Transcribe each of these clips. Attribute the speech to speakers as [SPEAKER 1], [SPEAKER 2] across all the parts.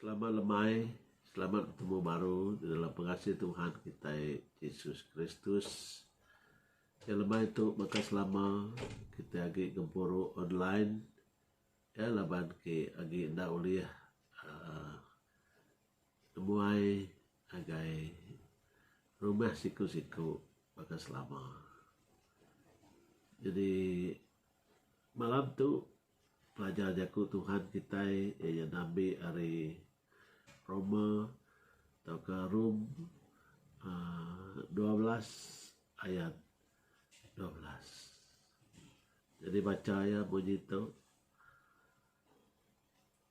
[SPEAKER 1] Selama lemai, selamat betemu baru di dalam pengasih Tuhan kitai Jesus Kristus. Ke lemai tu baka selama kitai agi gempuru online, iya laban ke agi enda ulih aaa. Kebuai ngagai rumah siku-siku baka selama. Jadi malam tu pelajar jaku Tuhan kitai iya nya ngambi ari Roma tauka Rom aaa dua belas ayat dua belas. Jadi bacha iya munyi tu.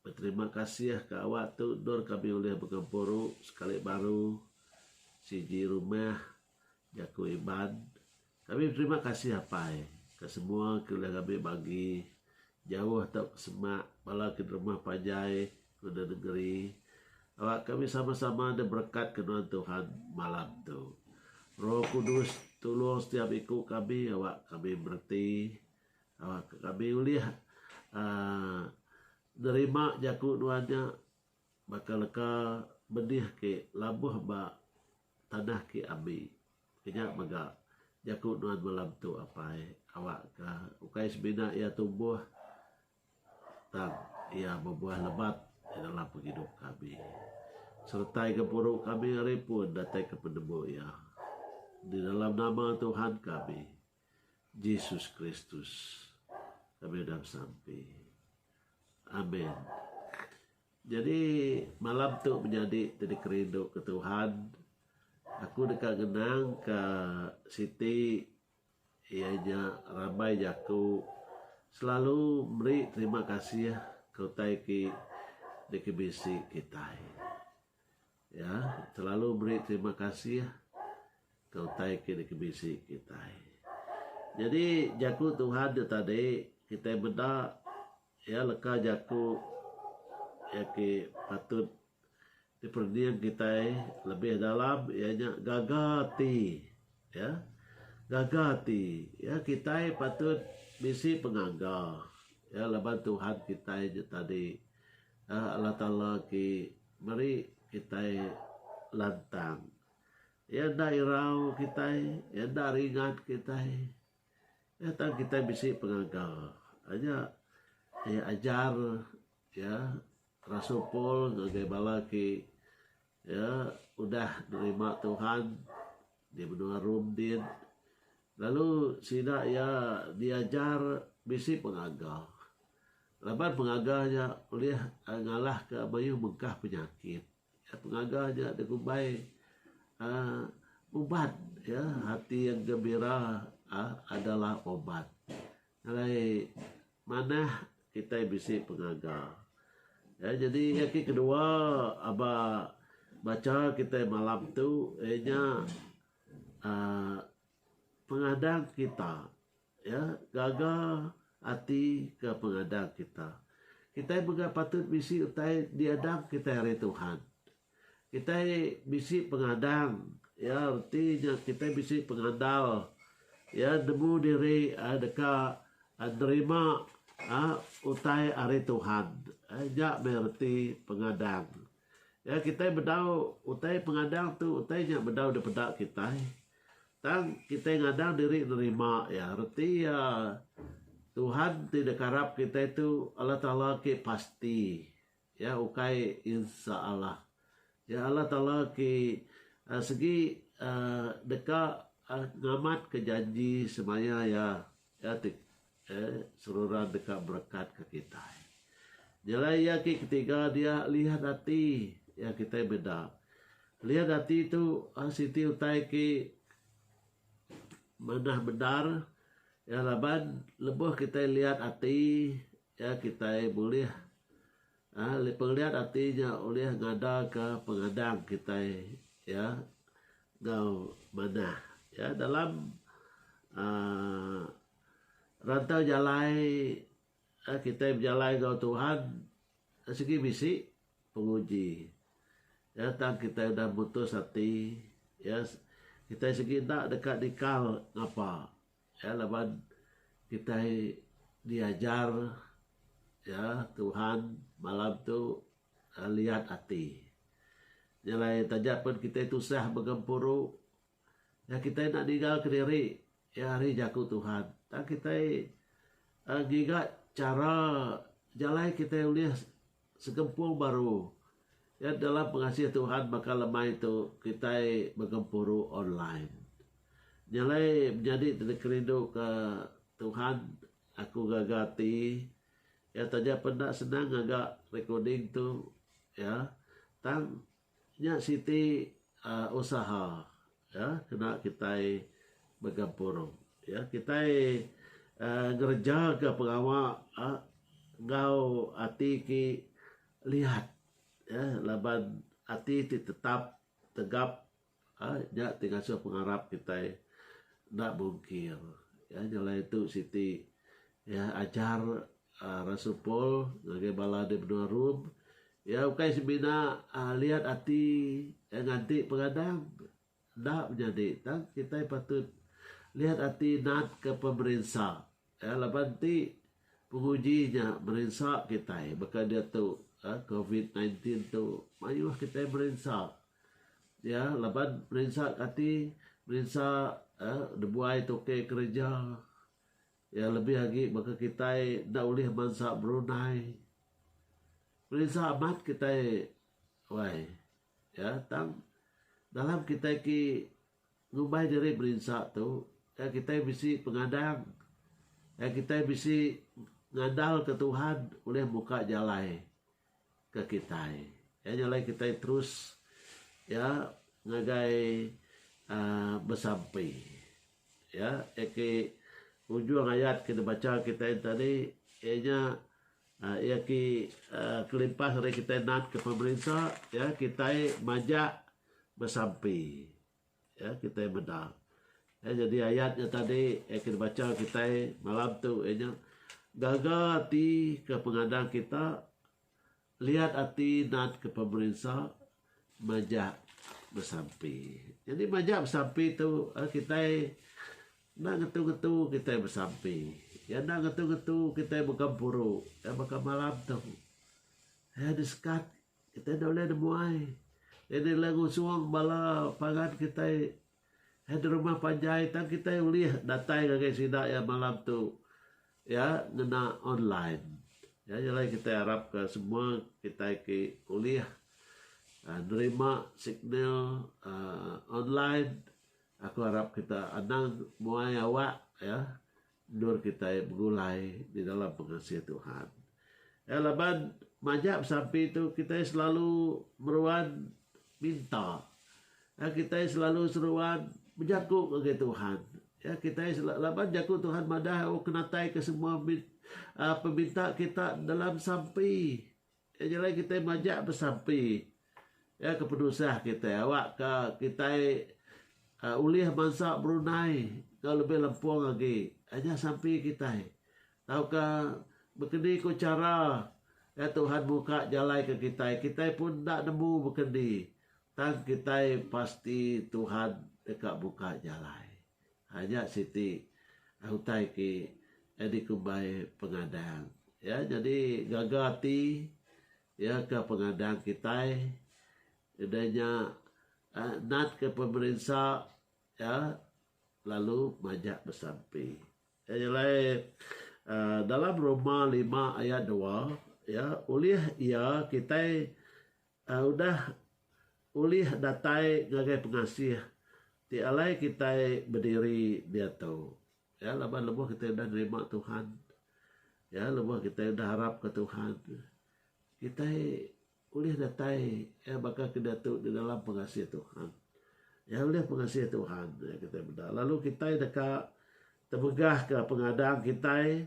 [SPEAKER 1] Beterima kasih ke awak tu endur kami ulih begempuru sekali baru sigi rumah jaku Iban. Kami beterima kasih apai ke semua ke ulih ngambi bagi jauh tau ke semak bala ke derumah panjai ngena nengeri. Awak kami sama-sama diberekat ke nuan Tuhan malam tu. Roh Kudus tulung setiap iku kami awak kami mereti. Kami ulih nerima jaku nuan nya baka leka benih ke labuh ba tanah ke ambi. Kinya mega jaku nuan malam tu Apai awakka ukai semina iya tumbuh tang iya bebuah lebat di dalam pengidup kami. Seretai gempuru kami ari pun datai ke penemu iya. Di dalam nama Tuhan kami. Jesus Kristus kami udah besampi. Amen. Jadi malam tu menyadi ti dikerindu ke Tuhan. Aku deka ngenang ke siti iya nya rambai jaku selalu meri terima kasih ke utai ti dikebisi kitai. Iya selalu meri terima kasih ke utai ke dikebisi kitai. Nyadi jaku Tuhan ti tadi kitai meda iya leka jaku iya ke patut diperening kitai lebih dalam iya nya gaga ati iya gaga ati iya kitai patut bisi pengaga iya laban Tuhan kitai nya tadi Allah Taala ti Meri kitai lantang. Iya enda irau kitai, iya enda ringat kitai. Iya tang kitai bisi pengaga. Aja iya ajar iya rasul Paul ngagai bala ti iya udah nerima Tuhan di menua Rome din. Lalu sida iya diajar bisi pengaga. Laban pengaga nya ulih ngalahka mayuh bengkah penyakit. Pengaga nya dikumbai uhh ubat iya, hati yang gembira uhh adalah ubat. Alai manah kitai bisi pengaga. Iya nyadi iya ke kedua aba bacha kitai malam tu iya nya. aaa pengadang kita iya gaga ati ke pengadang kita. Kitai mega patut bisi utai diadang kitai ari Tuhan. Kitai bisi pengadang iya reti nya kitai bisi pengandal iya nemu diri aaa deka nerima aaa utai ari Tuhan. Nya meh reti pengadang. Iya kitai bedau utai pengadang tu utai nya bedau dipeda kitai tang kitai ngadang diri nerima iya reti iya Tuhan ti dikarap kitai tu Allah Taala ke pasti iya ukai insaAllah iya Allah Taala ke segi deka ngamatka janji semaya iya. Iya ti eh seruran deka berekatka kitai. Nyelai iya ke ketiga dia lian ati iya kitai meda. Lian ati tu eh siti utai ke manah bendar iya laban lebuh kitai lian ati iya kitai bulih Ari pengeliat ati nya ulih ngadaka pengadang kitai iya enggau manah iya dalam aaa rantau jalai kitai bejalai enggau Tuhan sigi bisi penguji iya tang kitai udah mutus ati iya kitai sigi enda deka dikal ngapa. Ya laban kitai diajar ya Tuhan malam tu liat ati. Nya alai taja pen kitai tusah begempuru ya kitai enda ninggal kediri ya ari jaku Tuhan. Tang kitai ngiga chara jalai kitai ulih Segempuru baru. Nya dalam pengasih Tuhan baka lemai tu kitai begempuru online. Nya alai menyadi ti deka rindu ke Tuhan aku gaga ti iya taja pun enda senang ngaga recording tu iya tang Nya siti usaha iya kena kitai begempur iya kitai ngereja ka pengawa enggau ati ti liat iya laban ati ti tetap tegap Nya ti ngasuh pengarap kitai enda bungkir. Iya nya alai tu siti iya ajar uhh Rasul Paul ngagai bala di menua Rome. Iya ukai semina uhh liat ati iya nganti pengadang. Enda menyadi tang kitai patut liat ati natka pemerinsa. Laban ti, penguji nya merinsa kitai baka diatu covid sembilan belas tu mayuh kitai merinsa iya laban merinsa kati merinsa nebuai tukey kereja iya lebih agi baka kitai enda ulih bansa berundai merinsa amat kitai wai iya tang dalam kitai ti Ngubah diri berinsa tu ga kitai bisi pengadang ga kitai bisi ngandalka Tuhan ulih muka jalai ke kitai. Iya nya alai kitai terus iya ngagai uhh besampi. Iya eki ujung ayat ke dibacha kitai tadi iya nya. Iya ki kelimpah ari kitai nat ke pemerinsa iya kitai majak besampi iya kitai meda iya nyadi ayat nya tadi iya ke dibacha kitai malam tu iya nya gaga ati ke pengadang kita liat ati nat ke pemerinsa majak besampi. Jadi majak besampi tu eh, kitai enda ngetu-ngetu kitai besampi. Ya enda ngetu-ngetu kitai begempuru ya baka malam tu. Ya di sekat kitai enda boleh nemuai. Ini lah ngusung bala pangan kitai Iya di rumah panjai tang kitai ulih datai ngagai sida iya malam tu iya ngena online. Iya nya alai kitai arapka semua kitai ti ulih uhh nerima signal uhh online aku arap kita anang muai awak iya. Endur kitai begulai di dalam pengasih Tuhan. Ya, laban majak besampi tu, kitai selalu meruan minta. Ya, kitai selalu seruan bejaku ngagai Tuhan. Ya, kitai selalu, laban jaku Tuhan madah, oh, kenatai ke semua uh, peminta kita dalam sampi. Iya nyelai kitai majak besampi iya ke penusah kitai awakka kitai uhh ulih mansa berundai enggau lebih lempung agi uhh nyah sampi kitai tauka bekeni ku chara iya Tuhan muka jalai ke kitai kitai pun enda nemu bekeni tang kitai pasti Tuhan deka muka jalai. Aja siti utai ke dikumbai pengadang iya nyadi gaga ati iya ke pengadang kitai udah nya natka pemerinsa iya lalu majak besampi. Iya nya alai uhh dalam rumah lima aya dua iya ulih iya kitai Udah ulih datai ngagai pengasih ti alai kitai bediri diatu. Ya laban lebuh kitai udah nerima Tuhan, ya lebuh kitai udah arapka Tuhan, kitai ulih datai ya baka ke diatu di dalam pengasih Tuhan. Ya ulih pengasih Tuhan ya kitai meda lalu kitai deka temegahka pengadang kitai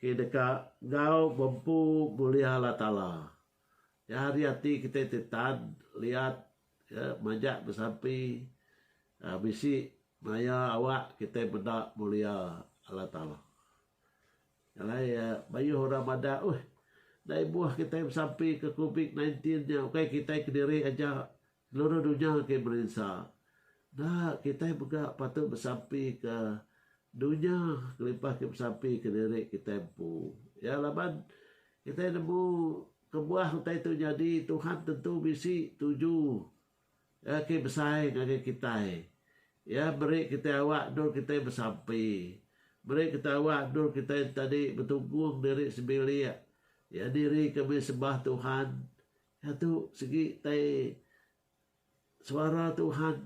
[SPEAKER 1] ke deka enggau bempu mulia Allah Taala. Iya hari ati kitai ti tan, liat, iya majak besampi uhh bisi maya awak kitai meda mulia Allah Taala. Alai iya mayuh orang madah uhh enda ibuh kitai besampi ke covid nineteen nya ukai kitai kediri aja Ngeluru dunya ke merinsa. Enda, kitai mega patut besampika dunya kelimpah ke besampika diri kitai empu. Ya, laban kitai nemu kebuah utai tu nyadi, Tuhan tentu bisi tuju ya ke besai ngagai kitai. Iya meri kitai awak endur kitai besampi. Meri kitai awak endur kitai tadi betunggung diri sebilik. Iya nirika meh sembah Tuhan. Iya tu sigi tai suara Tuhan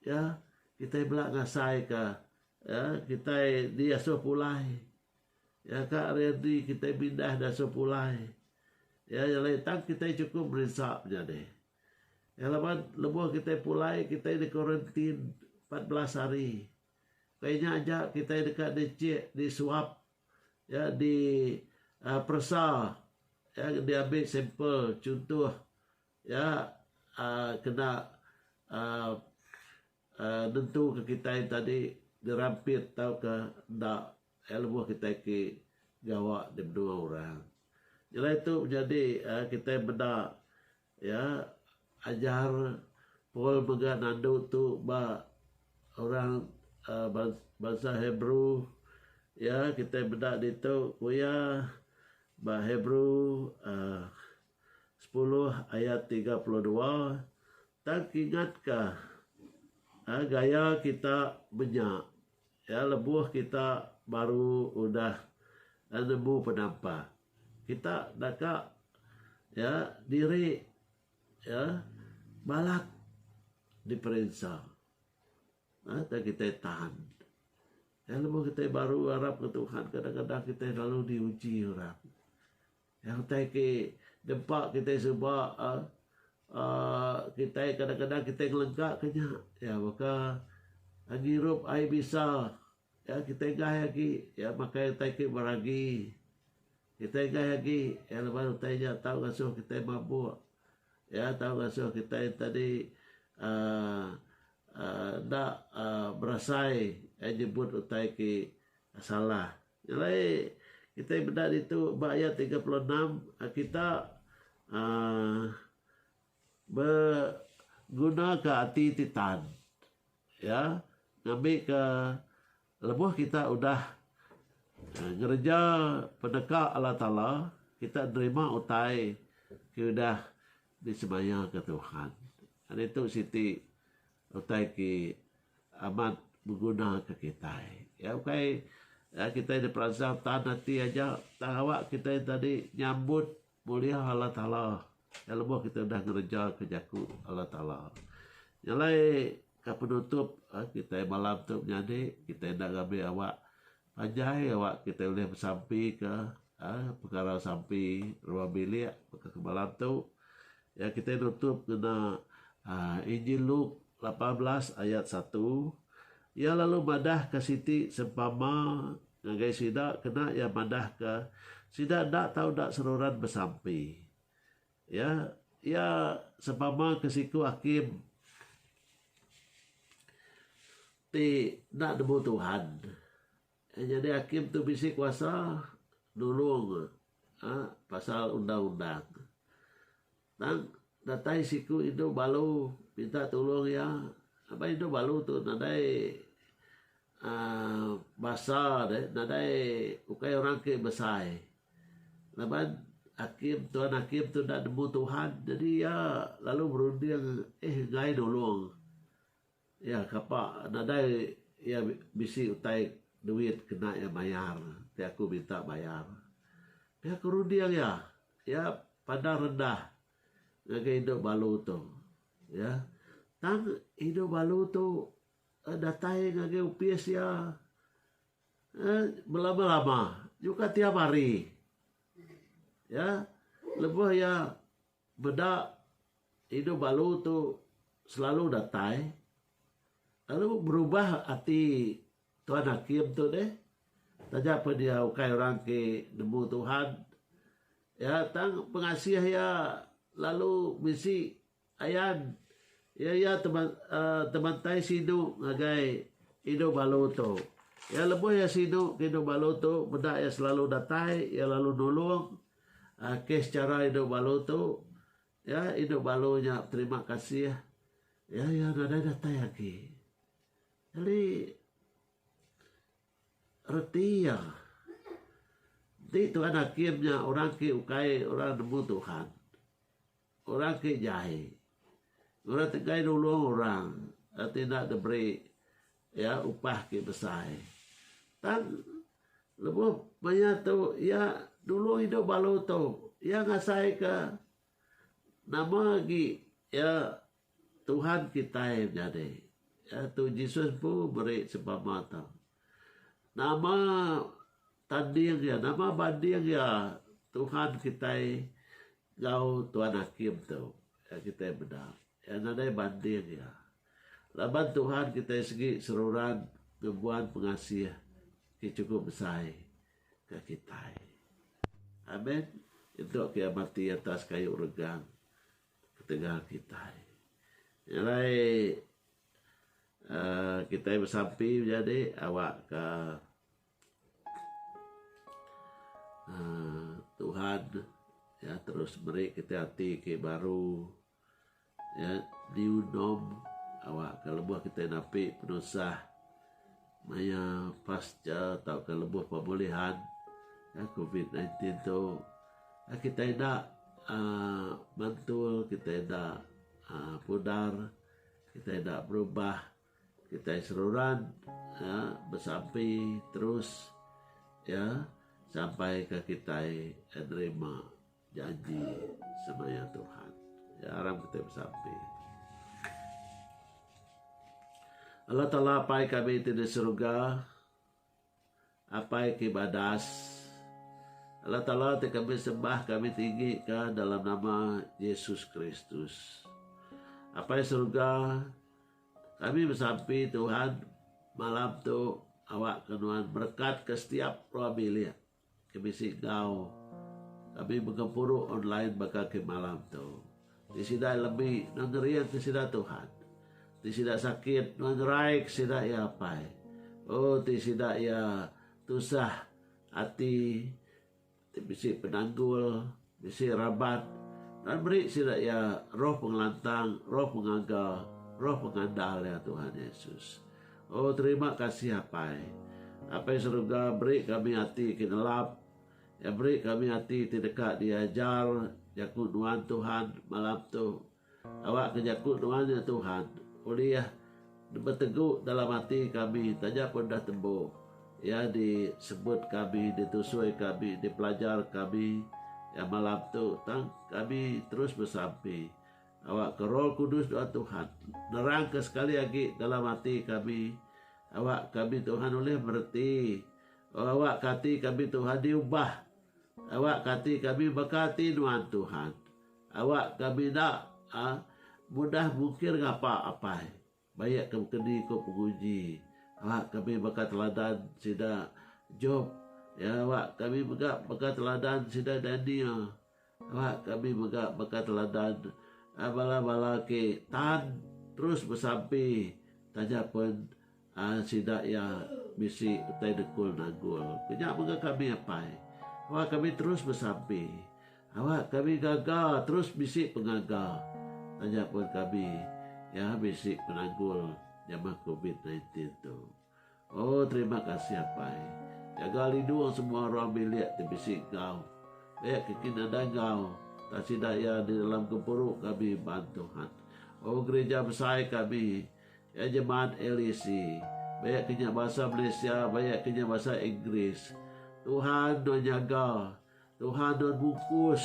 [SPEAKER 1] ya kitai bela ngasai ka ya kitai diasuh pulai ya ka ari enti kitai pindah diasuh pulai ya lain tang kitai chukup merinsa menyadi. Ya laban lebuh kitai pulai kitai di quarantine empat belas hari. Pia nya aja kitai deka dichek disuap iya di aaa peresa iya diambi sampel chuntoh iya aaa kena aaa aaa nentuka kitai tadi dirampit tauka enda iya lebuh kitai ti gawa di menua orang. Nyelai tu nyadi aaa kitai meda Iya ajar Paul mega nandu tu ba orang bansa Hebrew. Iya kitai meda ditu ku iya ba Hebrew sepuluh ayat tiga puluh dua tang kingatka gaya kita menya. Ya lebuh kita baru udah nemu penampa kita deka ya diri ya balat diperinsa ya tang kitai tahan ya lebuh kitai baru arap ngan Tuhan kadang-kadang kitai lalu diuji orang. Nyang utai ke dempa kitai suba aaa kitai kadang-kadang kitai ngelengka ke nya iya baka ngirup air bisa iya kitai gai agi iya makai utai ke beragi kitai gai agi iya laban utai nya tau ngasuh kitai mabuk iya tau ngasuh kitai enti di aaa aaa enda aaa berasai nyebut utai ke salah. Jalai kitai meda ditu ba ayat tiga puluh enam kita um begunaka ati ti tan iya ngambika lebuh kita udah ngereja peneka Allah Taala kita nerima utai ke udah disemayaka Tuhan. Ditu siti Utai ti amat begunaka kitai. Iya ukai nya kitai diperansang tan ati aja tang awa kitai enda di nyambut mulia Allah Taala iya lebuh kitai udah ngerejaka jaku Allah Taala. Nya alai ka penutup kitai malam tu menyadi kitai enda ngambi awa Panjai awak kitai ulih besampi ka pekara sampi ruang bilik baka kemalam tu iya kitai nutup ngena Injil Luke lapan belas ayat satu iya lalu madah ka siti sempama ngagai sida kena iya madah ka sida enda tau enda seruran besampi Iya iya sebama ke siku hakim ti enda nemu Tuhan. Nyadi hakim tu bisi kuasa nulung um pasal undang-undang. Tang datai siku indu balu minta tulung iya ba indu balu tu nadai um basa deh nadai ukai orang ke besai. Laban hakim tuan hakim tu enda nemu Tuhan jadi iya lalu berunding eh enggai nulung iya kapa nadai iya bisi utai duit kena iya mayar ti aku minta bayar. Tapi aku runding iya, iya pandang rendah ngagai indu balu tu iya tang indu balu tu datai ngagai opis iya Belama-lama nyuka tiap hari iya lebuh iya meda indu balu tu selalu datai lalu berubah ati Tuan Hakim tu deh taja pen iya ukai orang ti nemu Tuhan iya tang pengasih iya lalu bisi. Ayan, iya iya tebantai sinu ngagai Indu Balu tu. Iya lebuh iya sinu ke Indu Balu tu meda iya selalu datai, iya lalu nulung kes chara Indu Balu tu. Iya Indu Balu nya beterima kasih iya iya nadai datai agi. Nyadi reti iya enti Tuhan Hakim nya orang ke ukai orang nemu Tuhan. Orang ke jai. Orang tegai nulung orang reti enda diberi iya upah ke besai. Tang lebuh maya tu iya nulung indu balu tu, iya ngasaika nama agi iya Tuhan kitai menyadi. Tu Jesus empu meri sempama tu. Nama Tanding iya. Nama banding iya Tuhan kitai enggau Tuan Hakim tu iya kitai meda. Iya nadai banding iya. Laban Tuhan kitai sigi seruran ngembuan pengasih ti chukup besai ke kitai. Amen. Nyentuk ke iya mati atas kayu regang ketegal kitai. Nya alai uhh kitai besampi menyadi awakka. uhh Tuhan iya terus meri kita ati ke baru iya new norm awakka lebuh kita napi penusah maya pasca tauka lebuh pemulihan covid sembilan belas tu iya kita enda uhh mantul kita enda uhh pudar kita enda berubah. Kitai seruran ya besampi terus ya sampai ke kitai nerima janji semaya Tuhan. Ya aram kitai besampi. Allah Taala Pai kami ti di surga. Apai ke badas. Allah Taala ti kami sembah kami tinggi ka dalam nama Jesus Kristus. Apai Surga kami besampi Tuhan malam tu awak ke nuan berkat ke setiap rua bilik. Ke bisi enggau kami begempuru online baka ke malam tu. Ti sida lebi nuan ngering ke sida Tuhan. Ti sida sakit nuan ngerai ke sida iya apai. Oh ti sida iya tusah ati ti bisi penanggul. Bisi rabat, lalu meri sida iya roh pengelantang, roh pengaga, roh pengandal iya Tuhan Yesus. Oh terima kasih Apai. Apai Seruga beri kami ati ke nelap, iya beri kami ati ti deka diajar jaku nuan Tuhan malam tu. Awakka jaku nuan nya Tuhan ulih betegu dalam ati kami taja pun dah tembu Iya disebut kami, ditusui kami, dipelajar kami iya malam tu tang kami terus besampi. Awakka Roh Kudus nuan Tuhan nerangka sekali agi dalam ati kami awak kami Tuhan ulih mereti. Oh awakka ati kami Tuhan diubah. Awakka ati kami baka ati nuan Tuhan. Awak ka bina a mudah mukir ngapa apai. Bayak ke bekeni ko penguji awak kami baka teladan sida Job ya awak kami mega baka teladan sida Daniel awak kami mega baka teladan a bala bala ke tan terus besampi taja pen Ai sida iya bisi utai Dengkul Nanggul. Ku nya mega kami apai. Awak kami terus besampi. Awak kami gaga terus bisi pengaga taja pun kami iya bisi penanggul nyama covid nineteen tu. Oh terima kasih apai. Jaga lindung semua orang bilik ti bisi enggau. Pia ke kin nadai enggau tang sida iya di dalam gempuru kami baan Tuhan. Oh gerija besai kami. Iya jemaat LEC, bayak ke nya basa Malaysia bayak ke nya basa Inggeris. Tuhan nuan nyaga, Tuhan nuan mungkus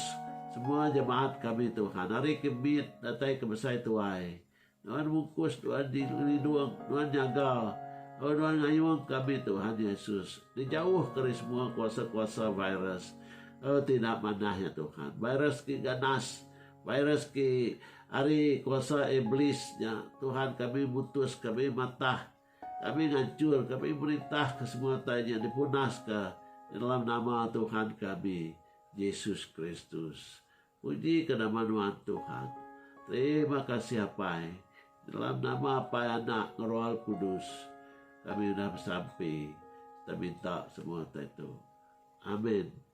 [SPEAKER 1] semua jemaat kami Tuhan ari ke mit datai ke besai tuai. Nuan mungkus nuan ngelindung, nuan nyaga lalu nuan ngayung kami Tuhan Yesus ngejauh ke ari semua kuasa-kuasa virus lalu ti enda manah ya Tuhan. Virus ke ganas. Virus ke ari kuasa Iblis nya, Tuhan kami mutus kami matah kami ngancur kami merintah ke semua utai nya dipunas ka di dalam nama Tuhan kami Jesus Kristus. Puji ke nama nuan Tuhan. Terima kasih Apai. Di dalam nama Apai Anak Roh Kudus kami udah besampi. Kita minta semua utai tu. Amin.